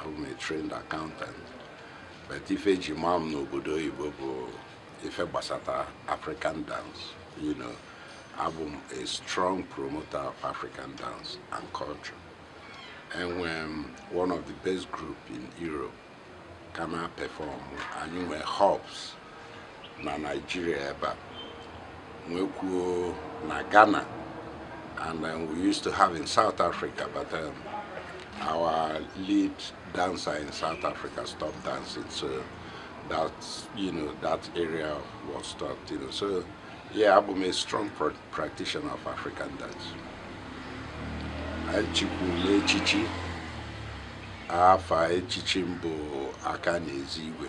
abụ m a trained accountant but ife eji maa m n'obodo oyibo bụ ife gbasata african dance you know abụ m a strong promoter of african dance and culture enwe m one of the best group in europe ka na-perform anyị nwee hubs na Nigeria ebe a nwekwuo na Ghana and then we used to have in South Africa but um, our lead dancer in South Africa stopped dancing so that you know that area was stopped you know so yeah abụ m a strong pra- practitioner of African dance echikwulu m echichi afa echichi m bụ aka na-ezi igwe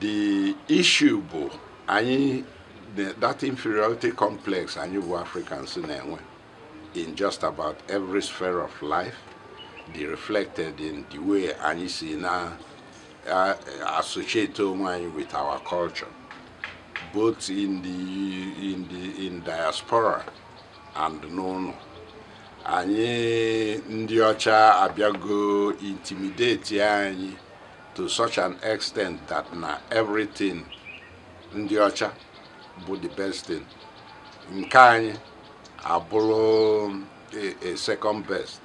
the issue bụ anyị that inferiority complex anyị bụ Africans na-enwe in just about every sphere of life dị reflected in the way anyị si na associate onwe anyị with our culture both in the in the in diaspora and n'ụnọ anyị ndị ọcha abịago intimidate anyị to such an extent that na everything ndị ọcha bụ the best thing nke anyị abụrụ a, a second best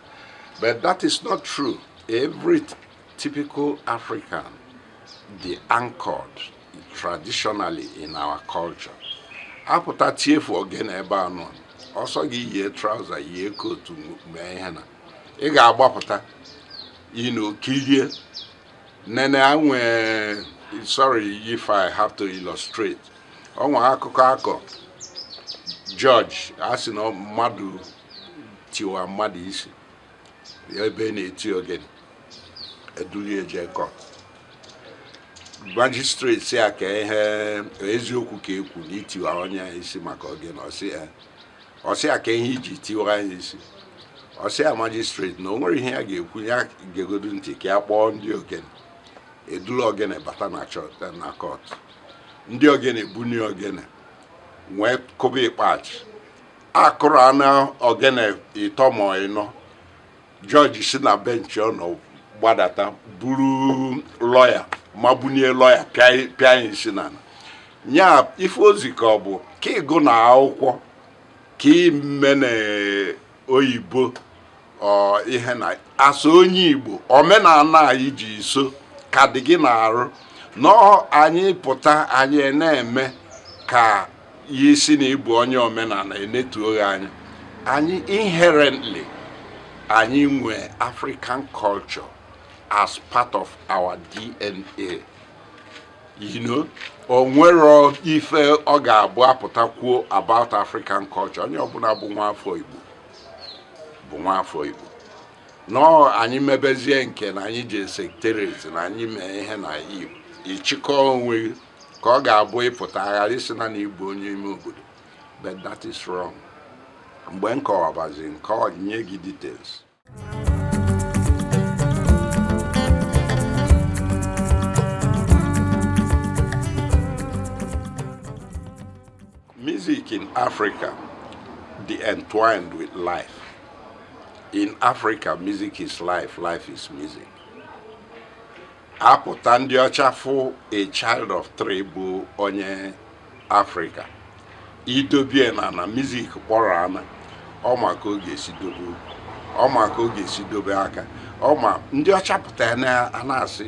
but that is not true every typical african dị anchored traditionally in our culture a pụta tiefu ogene ebe a nọ ọ sọ gị yie trouser yie coat mee ihe na ị ga-agbapụta you know kilie nene anwe sorry if I have to illustrate o nwe akụkọ a kọ judge a sị na mmadụ tiwa mmadụ isi ebe na-eti ogene edulie je court magistrate sị ya ka ihe eziokwu ka e kwu na i tiwa onye isi maka ogene ọ sị ya ọ sị ya kee ihe i ji tiwa onye isi ọ sị ya magistrate na o nwere ihe ya ga-ekwu ya gegodu ntị ka ya kpọọ ndị ogene e dulu ogene bata na church na court ndị ogene bunie ogene wee kụba ikpachi a kụrụ ọnụ ogene ịtọ ma ịnọ judge si na bench ọ nọ gbadata buru lawyer mabunie lawyer pịa ya isi n'ana nya ife o zi ka ọ bụ ka ị gụna akwụkwọ ka i mena oyibo ihe na-asọ onye igbo omenala anyị ji so ka dị gị n'arụ na anyị pụta anyị na-eme ka ya ị sị na ị bụ onye omenala enetuo gị anya anyị inherently anyị nwee african culture as part of our dna you know onwero ife ọ ga-abụ apụta kwuo about african culture onye ọbụla bụ nwa afọ igbo no anyị mebezie nke na anyị je secretariat na anyị mee ihe na igbo ịchịkọ onwe ka ọ ga-abụ ị pụta a ghara ịsị na na ị bụ onye ime obodo but that is wrong mgbe m kọwabazi nke ọ nye gị details music in Africa dị entwined with life. In Africa, music is life, life is music. apụta ndị ọcha fụ a child of three bụ onye afrịka i dobie n'ana music kpọrọ ana ọ ma ka ọ ga-esi dobe ọ ma ka ọ ga-esi dobe aka ọ ma ndị ọcha pụta ya na-asị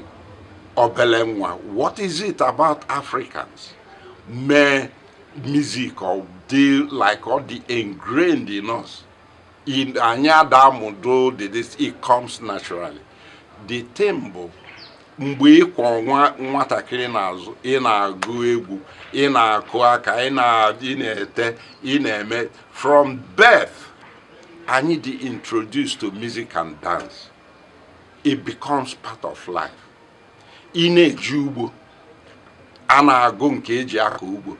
obele nwa what is it about africans mee music ọ dị like ọ dị ingrained in us in anyị ada amụdo the this it comes naturally the thing bụ mgbe ị kwọ nwa nwatakịrị n'azụ ị na-agụ egwu ị na-akụ aka ị na- ị na-ete ị na-eme from birth anyị dị introduced to music and dance it becomes part of life ị na-eje ugbo a na-agụ nke eji akọ ugbo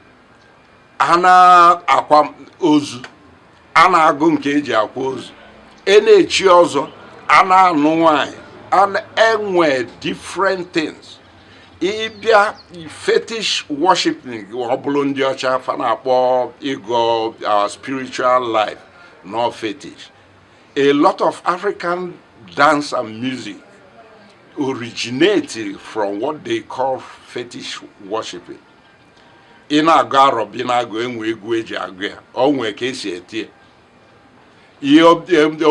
a na-akwa ozu a na-agụ nke eji akwa ozu e na-echi ọzọ a na-anụ nwanyị enwe different things ị bịa fetish worshiping ọ bụrụ ndị ọcha fa na-akpọ ịgọ our spiritual life no fetish a lot of African dance and music originated from what they call fetish worshiping ị na-agọ arọbinagụ enwe egwu eji agụ ya onwe ka esi etie ihe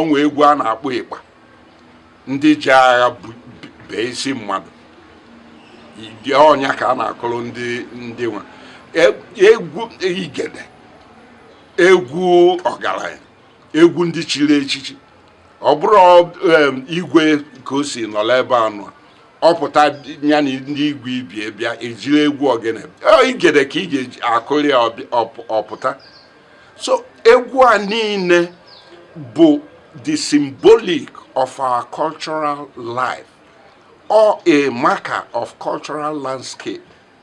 onwe egwu a na-akpọ ịkpa ndị ji agha bee isi mmadụ ọ nya ka a na-akụrụ ndị ndị nwa e, egwu igede egwu ọgaranya egwu ndị chiri echichi ọ bụrụ igwe ka o si nọla ebe anụ a ọ pụta ya na ndị igwe ibie bịa ejiri egwu ogene igede ka ị ga-akụrụ ya ọ pụta so egwu a niile bụ the symbolic of our cultural life or a marker of cultural landscape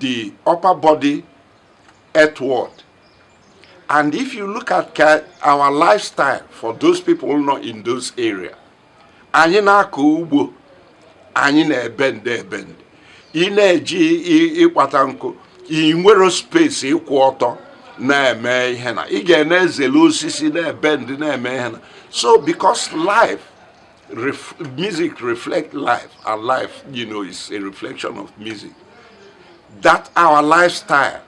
the upper body earthward. And if you look at our lifestyle for those people nọ in those area, anyị na-akọ ugbo anyị na-ebend ebend ị na-eje ịkpata nkụ ị nwere space ịkwụ ọtọ na-eme ihe na ị ga na-ezele osisi na-ebend na-eme ihe na so because life Ref music reflect life and life you know is a reflection of music that our lifestyle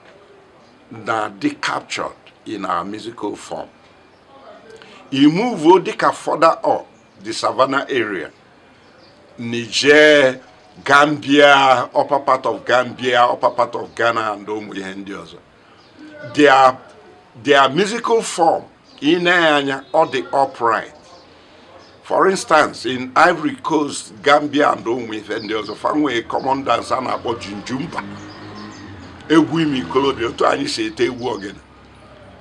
na dey captured in our musical form e move o dịka further up the savannah area niger gambia upper part of gambia upper part of ghana and ụmụ ihe ndị ọzọ their their musical form i nee ya anya ọ dị upright for instance in ivory coast gambia and ụmụ ife ndị ọzọ fa nwe common dance a na-akpọ jinjumba egwu ime ikolobia otu anyị si ete egwu ogene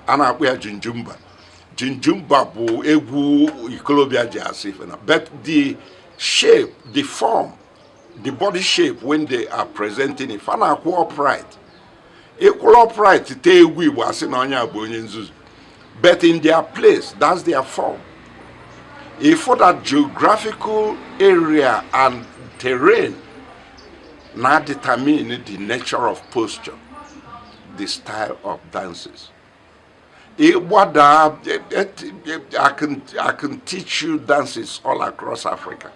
a na-akpọ ya jinjumba jinjumba bụ egwu ikolobia ji asị ife na but the shape the form the body shape when they are presenting it fa na-akwụ upright ị kwụrụ upright tee egwu igbo a sị na onye a bụ onye nzuzu but in their place that's their form ị fụ that geographical area and terrain na-adetermine the nature of posture the style of dances ịgbada I can, I can teach you dances all across Africa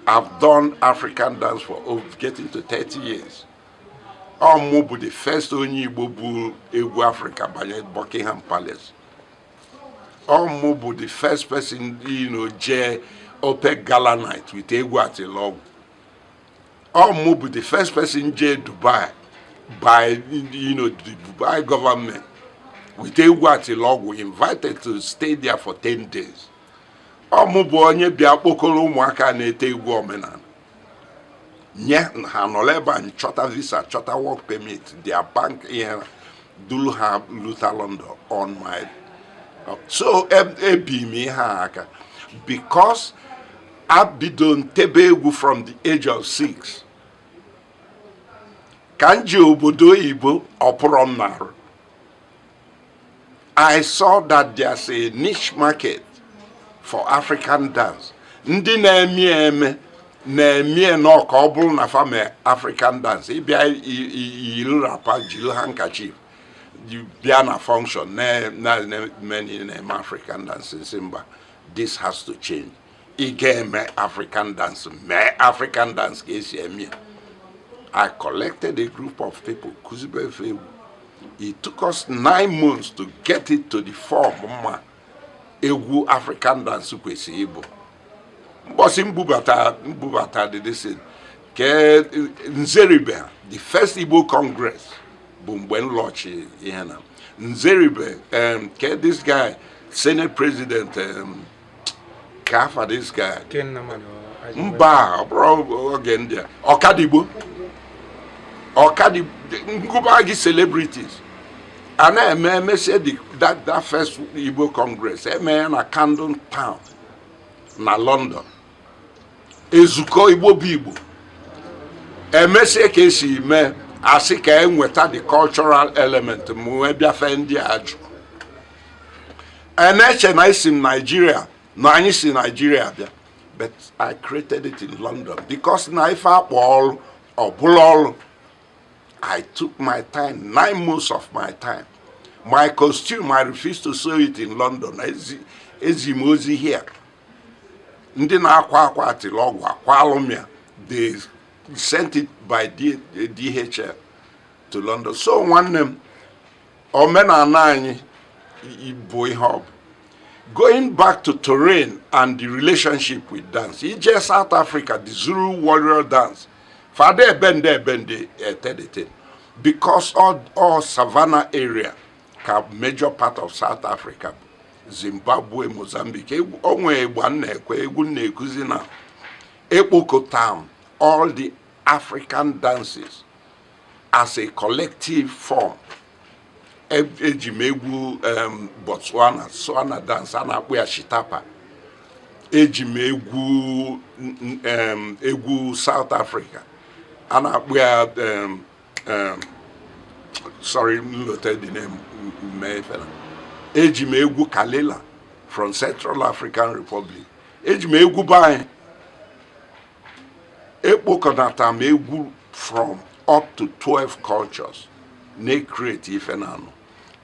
I've done African dance for over getting to 30 years ọ mụ bụ the first onye Igbo bu egwu Africa banye Buckingham Palace ọ mụ bụ the first person you know jee OPEC gala night with egwu atilọgwụ ọ mụ bụ the first person jee Dubai by you know the Dubai government with egwu atilọgwụ invited to stay there for 10 days ọ mụ bụ onye bịa kpokọrọ ụmụaka na-ete egwu omenala nye ha nọrọ ebe a chọta visa chọta work permit their bank ihe duru ha luta London on my so ebi m ihe a aka because ebido m tebe egwu from the age of six ka m je obodo oyibo ọ pụrọ m n'arụ I saw that there's a niche market for African dance. Ndị na-eme ya eme na-eme ya nnọọ ka ọ bụrụ na fa me African dance ị bịa yiri wrapper jiri handkerchief bịa na function na-eme na-eme African dance m sị mba this has to change. ị ga-eme african dance mee african dance ka e si eme i collected a group of people kụzibe fa egwu it took us nine months to get it to the form m ma egwu african dance kwesịrị ịbụ mbọsị m bubata m bubata did this nke nzeribe the first igbo congress bụ mgbe m launch ihe na nzeribe um, ke this guy senate president um, ka afa this guy mba ọ bụrụ oge ndị a Okadigbo Okadigbo m gụba gị celebrities a na-eme emesịa that that first Igbo Congress eme ya na Camden Town na London ezukọ Igbo bụ Igbo emesịa ka esi mee a sị ka e nweta the cultural element m wee bịafe ndị a jụ a na-eche na esi m naijiria na anyị si naijiria bịa but i created it in london because na ife a kpọ ọrụ ọ bụlụ ọrụ i took my time nine months of my time my costume i refused to sew it in london ezi m ozi here ndị na-akwa akwa atilogwu akwa alụmịa they sent it by DHL to London so nwanne m omenala anyị bụ ihe ọ bụ going back to terrain and the relationship with dance i je South Africa the Zulu warrior dance fa ada ebende ebende etedete because all, all savannah area ka major part of South Africa bụ Zimbabwe Mozambique o nwe egwu a m na-ekwu egwu m na-akụzi now ekpokọta m all the African dances as a collective form eji m egwu Botswana Tswana dance a na-akpọ ya Setapa eji m egwu egwu South Africa a na-akpọ ya sorry m lota the name efela eji m egwu Kalela from Central African Republic eji m egwu be anyị ekpokọnata m egwu from up to 12 cultures na-ekreti ife na anụ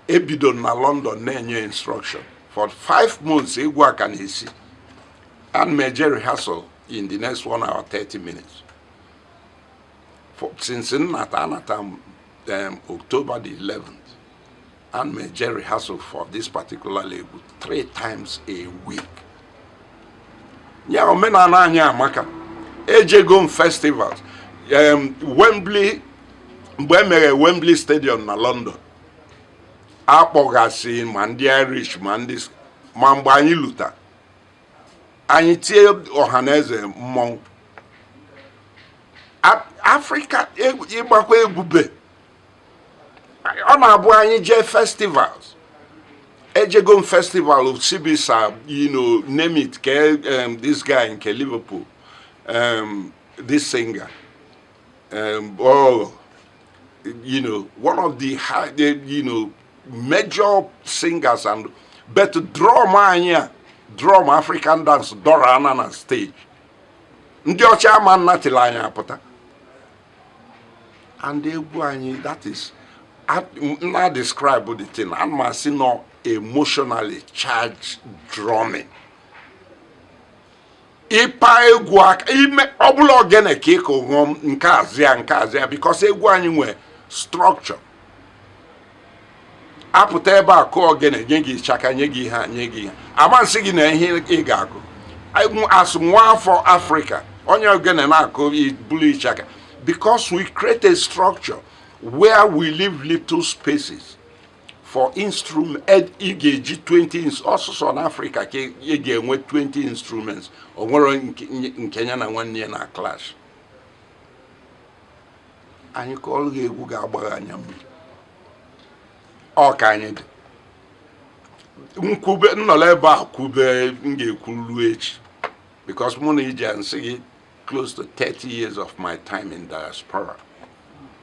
ebido m na London na-enye instruction for 5 months egwu a ka na-esi ana m eje rehearsal in the next one hour 30 minutes for, since m nata anata m um, October the 11th Ana m eje rehearsal for this particular egwu three times a week. yeah omenala anyị amaka ejego m festivals em, Wembley mgbe e mere Wembley Stadium na London akpọgasị ma ndị Irish ma ndị s- ma mgbe anyị luta anyị tie ọha na eze mmọnwụ A- Afrịka egwu- ịgbakwa egwu be ọ na-abụ anyị jee festivals ejego m festival osibisa you know name it ke um, this guy nke liverpool um, this singer um, oh, you know one of the, high, the you know major singers and but drum anyị a drum african dance dọrọ ana na stage ndị ọcha ama nnatịla anyị apụta and egwu anyị that is na describe the thing ana m asị na ọ emotionally charged drumming ịpa egwu aka ime ọ bụlụ ogene ka ị kụ um nke a azaa ya nke a azaa ya because egwu anyị nwe structure apụta ebe a kụọ ogene nye gị ịchaka nye gị ihe a ama nsị gị na ihe ị ga-akụ as nwa afọ afrịka onye ogene na-akụ bulu ịchaka because we create a structure where we leave little spaces for instrument ị ga-eji 20 ọ sọsọ na afrịka ka ị ga-enwe 20 instruments o nwerọ nke ya na nwanne ya na-clash anyị kụọlụ gị egwu ga-agba gị anya mmiri ọ ka anyị dị nkwube nnọlọ ebe a kwube m ga-ekwu luo echi because mụ na ije nsị gị close to 30 years of my time in diaspora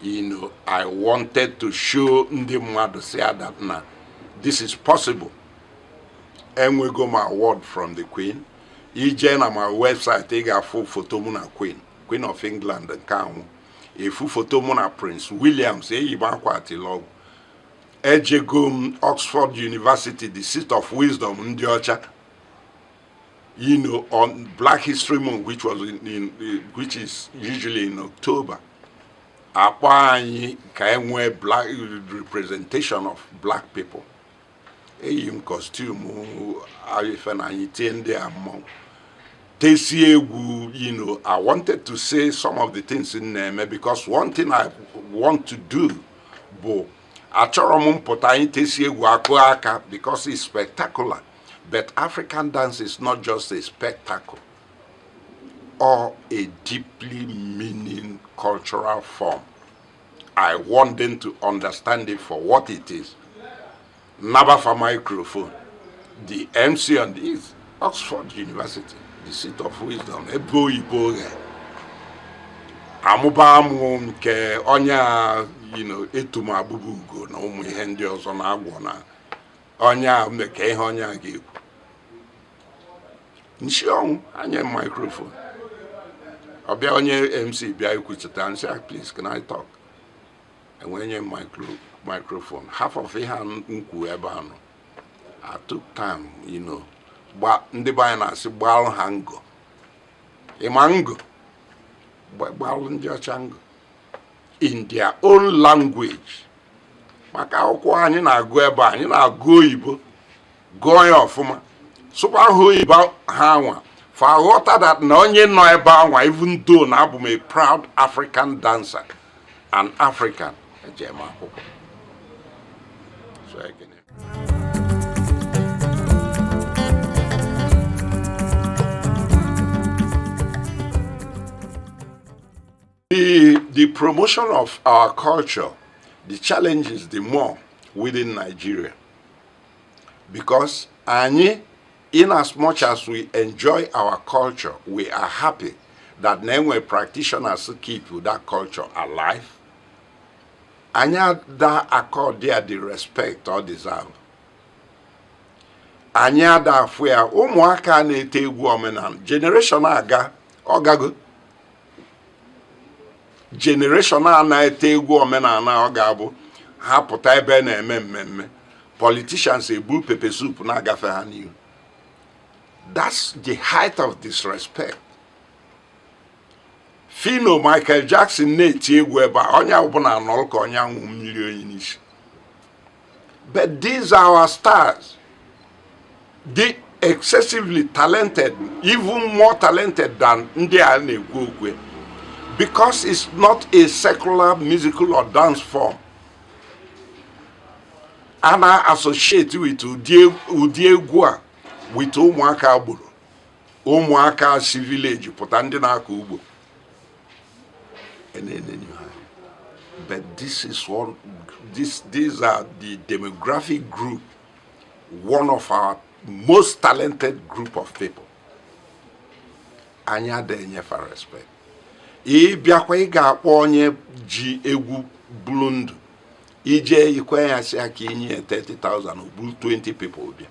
you know i wanted to show ndị mmadụ sị that na this is possible enwego m award from the queen i jee na my website ị ga-afụ foto mụ na queen Queen of England nke a nwụ ị fụ foto mụ na Prince Williams eyi m akwa atilọgwụ ejego m Oxford University the seat of wisdom ndị ọcha you know on Black History Month which was in, in, which is usually in October a kpọọ anyị ka e nwee black representation of black people eyi m costume ife na anyị tie ndị a mmọnwụ tesie egwu you know i wanted to say some of the things m na-eme because one thing i want to do bụ achọrọ m mpụta anyị tesie egwu a kụọ aka because it's spectacular but african dance is not just a spectacle ọ a deeply meaning cultural form I want them to understand it for what it is. Naba fa microphone. The MC on this, Oxford University, the seat of wisdom, Ebo Ibo. Amụba amụ nke onye a you know, etu m abụba ugo na ụmụ ihe ndị ọzọ na agwọ na onye makwa ihe onye a ga-ekwu m sị ọnwụ anye microphone ọ bịa onye mc bịa ikwuchita m sị ah, please can I talk e wee nye microphone half of ihe a m kwuo ebe anọ I took time you know gba ndị be anyị na-asị gbalụ ha ngo ịma ngo gbalụ ndị ọcha ngo in their own language maka akwụkwọ anyị na-agụ ebe a, anyị na-agụ oyibo gụọ ya ọfụma sụkwa ha oyibo ha anwa fa aghọta that na onye nọ ebe anwa even though na abụ m a proud african dancer and african eje m akwụkwọ The, the promotion of our culture, the challenge is the more within Nigeria. Because anyị, in as much as we enjoy our culture, we are happy that na e nwe practitioners keep that culture alive. Anyị ada accord ya the respect ọ deserve. Anyị ada afụ ya ụmụaka na-ete egwu omenala generation aga ọ gago generation a na-ete egwu omenala ọ ga-abụ ha pụta ebe na-eme mmemme politicians ebu pepe soup na-agafe ha n'ihu that's the height of disrespect if na ọ michael jackson na-eti egwu ebe a onye ọbụla anọrọ ka onye a wụ mmiri oyi n'isi But these are our stars. They're excessively talented, even more talented than ndị a na-ekwu okwu because it's not a secular musical or dance form. a na-associate with ụdị egwu a with ụmụaka agboro ụmụaka si village pụta ndị na-akọ ugbo and then, then you have. But this is one, this, these are the demographic group, one of our most talented group of people. Anyị ada enye fa respect. Ị bịakwa ị ga-akpọ onye ji egwu bulu ndụ ị je ikwe ya sị ka i nye ya 30,000 o buru 20 people bịa